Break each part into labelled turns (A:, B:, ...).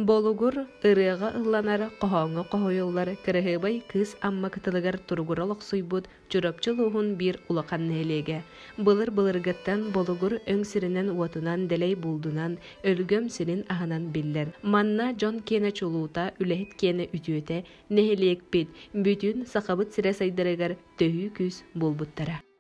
A: Болугур ырыаҕа ылланар хоһооҥҥо хоһуйуллар кыраһыабай кыыс Амма кытылыгар туругура олохсуйбут Чурапчы улууһун биир улахан нэһилиэгэ. Былыр-былыргыттан Болугур өҥ сиринэн-уотунан, дэлэй булдунан, өлгөм сирин аһынан биллэр. Манна дьон киэнэ чулуута, үлэһит киэнэ үтүөтэ, нэһилиэкпит, бүтүн Сахабыт сирэ сайдарыгар төһүү күүс буолбуттара.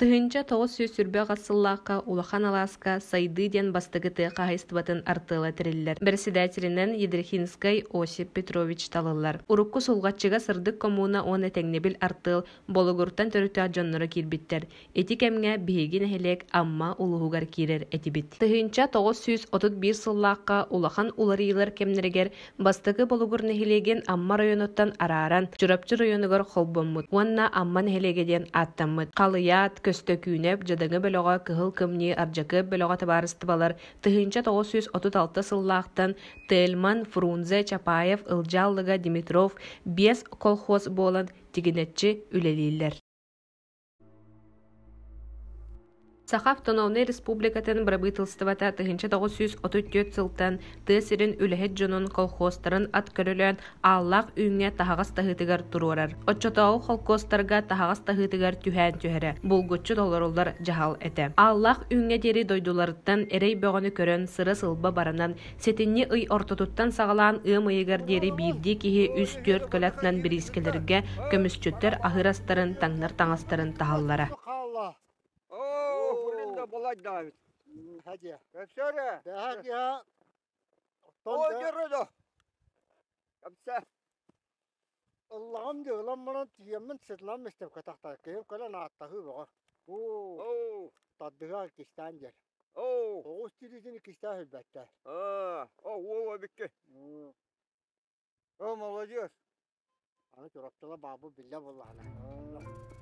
A: Тыһыынча тоҕус сүүс сүүрбэх ас сыллаахха Улахан алааска «Сайдыы» диэн бастакытыы хаһаайыстыбатын артыала тэриллэр. Бэрэссэдээтэлинэн Едрихинскай Осип Петрович талыллар. Урукку Сулҕаччыга Сырдык коммуна уонна Тэҥнэбил артыал Болугуртан төрүттээх дьонноро киирбиттэр. Ити кэмҥэ биһиги нэһилиэк Амма улууһугар киирэр этибит. Тыһыынча тоҕус сүүс отут биир сыллаахха улахан уларыйыылар кэмнэригэр бастакы Болугур нэһилиэгин Амма районуттан арааран Чурапчы районугар холбоммут уонна Амма нэһилиэгэ диэн ааттаммыт. Халыйаат, Көстөкүүнэп, Дьадаҥы бөлөҕө, Кыһыл Кымньыы, Ардьакыап бөлөҕө табаарыстыбалар тыһыынча тоҕус сүүс отут алта сыллаахтан Тельман, Фрунзе, Чапаев, Ылдьааллыга, Димитров, Биэс колхоз буолан тигинэччи үлэлииллэр. Саха Автономнай Республикатын бырабыыталыстыбата тыһыынча тоҕус сүүс отут түөрт сылтан тыа сирин үлэһит дьонун колхозтарын ат көрөлөөн ааллаах үүҥҥэ таһаҕас таһыытыгар туруорар. Оччотооҕу холкуостарга таһаҕас таһыытыгар түһээн түһэрэ булгуччу толоруллар дьаһал этэ. Ааллаах үүҥҥэ диэри дойдуларыттан эрэй бөҕөнү көрөн сыра-сылба баранан Сэтинньи ый ортотуттан саҕалаан ыам ыйыгар диэри биирдии киһи үс-түөрт көлө атынан бириискэлэргэ көмүсчүттэр аһыр астарын, таҥнар таҥастарын таһаллара. Ыллаҕым дьыалам баран тиийэммин сытынан мистепкэ тахтар киһим кэлэн ааттаһыы бөҕө. Оо, тардыһа иккистээн диэн. Оҕус тириитин иккистээн билбэттэр. Оо, уол эбикки. Оо, молодец. Аны Чурапчыла баабу биллэ буоллаҕына.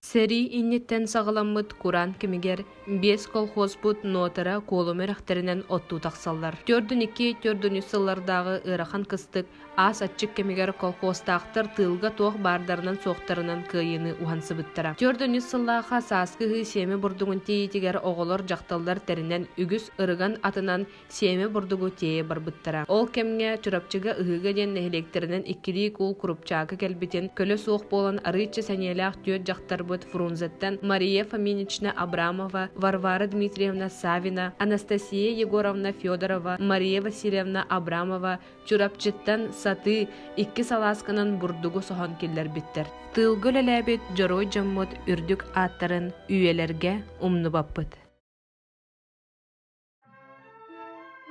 A: Сэрии инниттэн саҕаламмыт кураан кэмигэр биэс колхозпут нотара куолум үрэхтэринэн оттуу тахсаллар. Төрдүн икки, төрдүн үс сыллардааҕы ыарахан кыстык аас аччык кэмигэр колхозтаахтар тыылга туох баардарынан-суохтарынан кыайыыны уһансыбыттара. Төрдүн үс сыллаахха сааскы ыһыы сиэмэ бурдугун тиийиитигэр оҕолор дьахталлар тэринэн үгүс ырыган атынан Сиэмэ бурдугу тиэйэ барбыттара. Ол кэмҥэ Чурапчыга Ыһыыга диэн нэһилиэктэринэн иккилии куул курупчаакы кэлбитин, көлө суох буолан арыычча сэниэлээх түөрт дьахтарбыт Фрунзеттан Мария Фоминична Абрамова, Варвара Дмитриевна Савина, Анастасия Егоровна Федорова, Мария Васильевна Абрамова Чурапчыттан сатыы икки салаасканан бурдугу соһон киллэрбиттэр. Тыылга үлэлээбит дьоруой дьоммут үрдүк ааттарын үйэлэргэ умнубаппыт.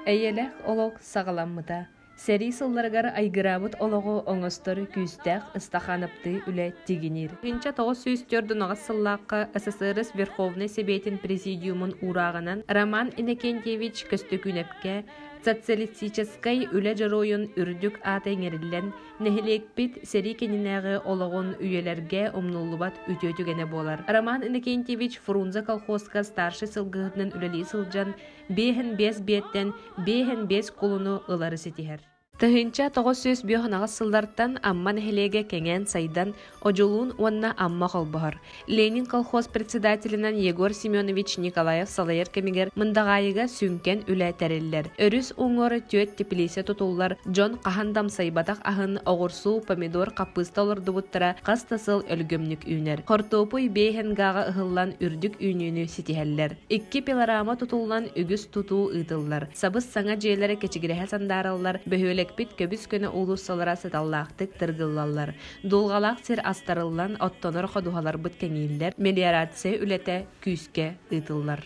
A: Эйэлээх олох саҕаламмыта. Сэрии сылларыгар айгыраабыт олоҕу оҥостор күүстээх ыстахаанаптыы үлэ тигиниир. 1904 сыллаахха СССР Верховнай Сэбиэтин Президиумун уурааҕынан Роман Иннокентьевич Көстөкүүнэпкэ социалистическай үлэ дьоруойун үрдүк аата иҥэриллэн Нэһилиэкпит сэрии кэннинээҕи олоҕун үйэлэргэ умнуллубат үтүө түгэнэ буолар. Роман Иннокентьевич Фрунзе колхуоска старшай сылгыһытынан үлэлии сылдьан, биэһэн биэс биэттэн биэһэн биэс кулуну ылары ситиһэр. Тыһыынча тоҕус сүүс бүөх ынаҕыс сыллартан Амма нэһилиэгэ кэҥээн-сайдан, Одьулуун уонна Амма холбоһор. Ленин колхоз председателинэн Егор Семенович Николаев салайар кэмигэр Мындаҕаайыга сүҥкэн үлэ тэриллэр. Өрүс уҥуоҕар түөрт типилииссэ тутуллар, дьон хаһан да амсайбатах аһын, оҕурсу, помидор, хаппыыста олордубуттара хас да сыл өлгөмнүк үүнэр. Хортуопуй Бээһэнгээҕэ ыһыллан үрдүк үүнүүнү ситиһэллэр. Икки пилорама тутуллан үгүс тутуу ыытыллар. Сабыс-саҥа дьиэлэрэ кэчигирэһэ сандаараллар, бөһүөлэкпит көбүс-көнө уулуссалара сыталлаахтык тыргыллаллар. Дулҕалаах сир астарыллан оттонор ходуһаларбыт кэҥииллэр, мелиорация үлэтэ күүскэ ыытыллар.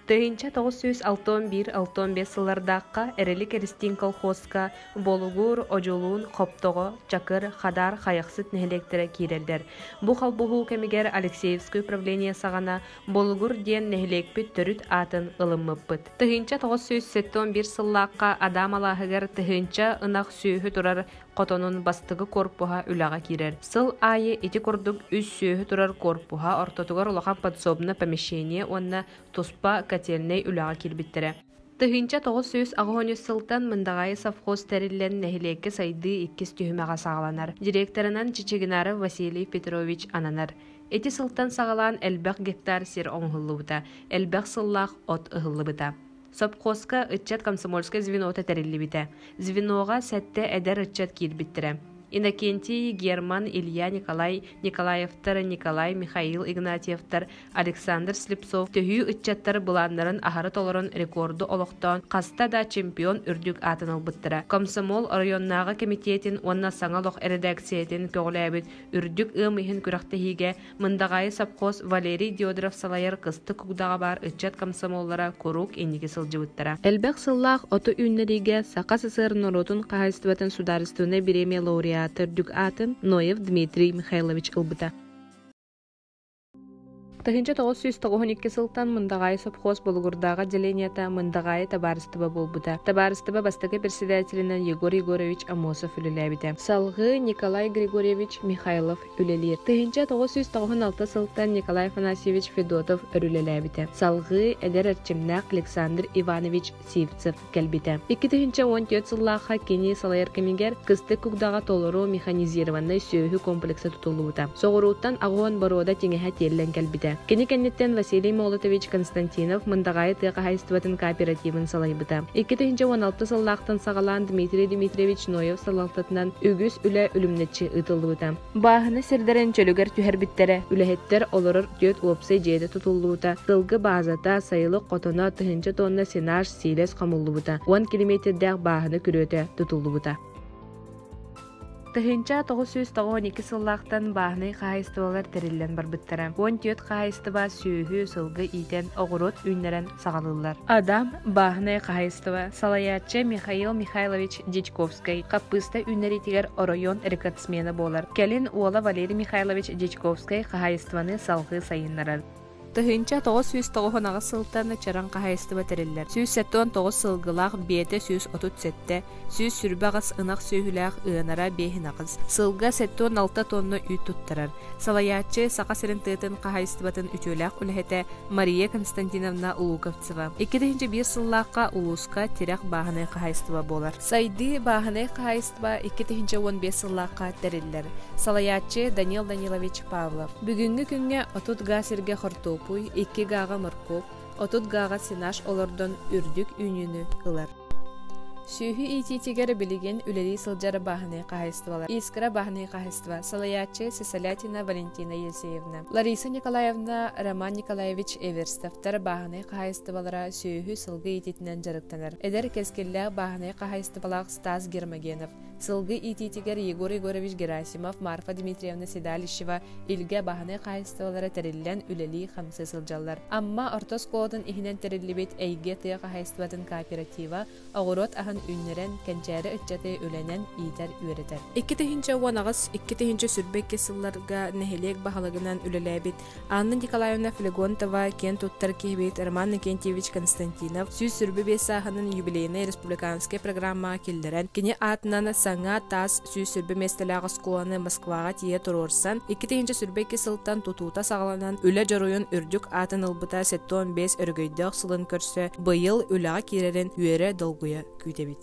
A: Тыһыынча тоҕус сүүс алта уон биир алта уон биэс сыллардаахха Эрэли Кэристиин колхуоска Болугуур, Одьулуун, Хоптоҕо, Чакыр, Хадаар хайахсыт нэһилиэктэрэ киирэллэр. Бу холбоһуу кэмигэр Алексеевское управление саҕана Болугур диэн нэһилиэкпит төрүт аатын ылыммыппыт. Тыһыынча тоҕус сүүс сэттэ уон биир сыллаахха Адам алааһыгар тыһыынча ынах сүөһү турар Хотонун бастакы корпуһа үлэҕэ киирэр. Сыл аайы ити курдук үс сүөһү турар корпуһа ортотугар улахан подсобно помещение уонна туспа котельнай үлэҕэ киирбиттэрэ. Тыһыынча тоҕус сүүс аҕыс уонча сылтан Мындаҕайы совхоз тэриллэн нэһилиэккэ сайдыы иккис түһүмэҕэ саҕаланар. Директорынан Чичигинаров Василий Петрович ананар. Ити сылтан саҕалаан элбэх гектар сир оҥоһуллубута, элбэх сыллаах от ыһыллыбыта. Сопхуоска ыччат комсомольскай звенота тэриллибитэ. Звеноҕа сэттэ эдэр ыччат киирбиттэрэ. Иннокентий, Герман, Илья Николай, Николаевтар, Николай, Михаил Игнатьевтар, Александр Слепцов төһүү ыччаттар былааннарын аһары толорон рекорду олохтоон хаста да чемпион үрдүк аатын ылбыттара. Комсомол оройуоннааҕы кэмитиэтин уонна саҥа олох эрэдээксийэтин көҕүлээбит үрдүк ыам иһин күрэхтэһиигэ Мындаҕаайы сопхуос Валерий Дедоров салайар Кыстык Угдаҕа баар ыччат комсомоллара куруук инники сылдьыбыттара. Элбэх сыллаах оту үүннэриигэ Саха СССР норуотун хаһаайыстыбатын судаарыстыбынай бириэмийэ лауреата төрдүк аатын Ноев Дмитрий Михайлович ылбыта. Тыһыынча тоҕус сүүс тоҕуһун икки сылтан Мындаҕаайы сопхуос Болугурдааҕы отделениета Мындаҕаайы табаарыстыба буолбута. Табаарыстыба бастакы председателинэн Егор Егорович Амосов үлэлээбитэ. Салгыы Николай Григорьевич Михайлов үлэлиир. Тыһыынча тоҕус сүүс тоҕуһун алта сылтан Николай Афанасьевич Федотов өрүлэлээбитэ. Салгыы эдэр эрчимнээх Александр Иванович Сивцев кэлбитэ. Икки тыһыынча уон түөрт сыллаахха кини салайар кэмигэр Кыстык Кугдаҕа толору механизированнай сүөһү комплекса тутуллубута. Соҕурууттан аҕыһын боруода тиҥэһэ тиэллэн кэлбитэ. Кини кэнниттэн Василий Молотович Константинов Мындаҕайы тыа хаһаайыстыбатын кооперативын салайбыта. Икки тыһыынча уон алта сыллаахтан саҕалаан Дмитрий Дмитриевич Ноев салалтатынан үгүс үлэ үлүмнүччү ыытыллыбыта. Бааһына сирдэрин чөлүгэр түһэрбиттэрэ. Үлэһиттэр олорор түөрт уопсай дьиэтэ тутуллубута, сылгы баазата, сайылык хотоно, тыһыынча тонна сенаж, сиилэс хомуллубута, уон километрдээх бааһына күрүөтэ тутуллубута. Тыһыынча тоҕус сүүс тоҕон икки сыллаахтан бааһынай хаһаайыстыбалар тэриллэн барбыттара. Он түөрт хаһаайыстыба сүөһү, сылгы иитэн, оҕуруот үүннэрэн саҕалыыллар. Адам, бааһынай хаһайыстыба, салайааччы Михаил Михайлович Дьячковскай, хаппыыста үүннэриитигэр оройуон рекордсмена буолар. Кэлин уола Валерий Михайлович Дьячковскай хаһайыстыбаны салгыы сайыннарар. Тыһыынча тоҕус сүүс тоҕуһун аҕыс сылтан Чараҥ хаһайыстыба тэриллэр. Сүүс сэттэ уон тоҕус сылгылаах, биэтэ сүүс отут сэттэ, сүүс сүрбэ аҕыс ынах сүөһүлээх ыанара биэһин аҕыс сылга сэттэ уон алта тонна үүт туттарар салайааччы саха сирин тыатын хаһаайыстыбатын үтүөлээх үлэһитэ мария константиновна луковцева икки тыһыынча биир сыллаахха улууска тирэх бааһынай хаһаайыстыба буолар сайдыы бааһынай хаһаайыстыба икки тыһыынча уон биэс сыллаахха тэриллэр салайааччы данил данилович павлов бүгүҥҥү күҥҥэ отут газ сиргэ хортуопуй икки гааҕа моркуоп отут гааҕа сенаж олордон үрдүк үүнүүнү ылар. Сүөһү иитиитигэр билигин үлэлии сылдьар бааһынай хаһайыстыбалар Искра бааһынай хаһайыстыба салайааччы Сисалятина Валентина Елисеевна, Лариса Николаевна, Роман Николаевич Эверстовтар бааһынай хаһайыстыбалара сүөһү сылгы иититинэн дьарыктанар. Эдэр кэскиллээх бааһынай хаһайыстыбалаах Стас Гермогенов Сылгы иитиитигэр Егор Егорович Герасимов, Марфа Дмитриевна Седалищева илгэ баһынай хаһаайыстыбалара тэриллэн үлэлии-хамсыы сылдьаллар. Амма орто оскуолатын иһинэн тэриллибит Эйгэ тыа хаһаайыстыбатын кооператива оҕуруот аһын үүннэрэн, кэнчээри ыччаты үлэнэн иитэр-үөрэтэр. Икки тыһыынча уон аҕыс, икки тыһыынча сүрбэ икки сылларга нэһилиэк баһылыгынан үлэлээбит Анна Николаевна Флегонтова киэн туттар киһибит Роман Иннокентьевич Константинов сүүс сөрбü биэс сааһынын юбилейнай республиканскай программаҕа киллэрэн, кини аатынан саҥа таас сүүс сөрбü миэстэлээх оскуоланы Москваҕа тиийэ туруорсан, икки тыһыынча сөрбө икки сылтан тутуута саҕаланан, үлэ дьоруйун үрдүк аатын ылбыта сэттэ уон биэс өрөгөйдөөх сылын көрсө, быйыл үлэҕэ киирэрин үөрэ-долгуйа күүтэбит.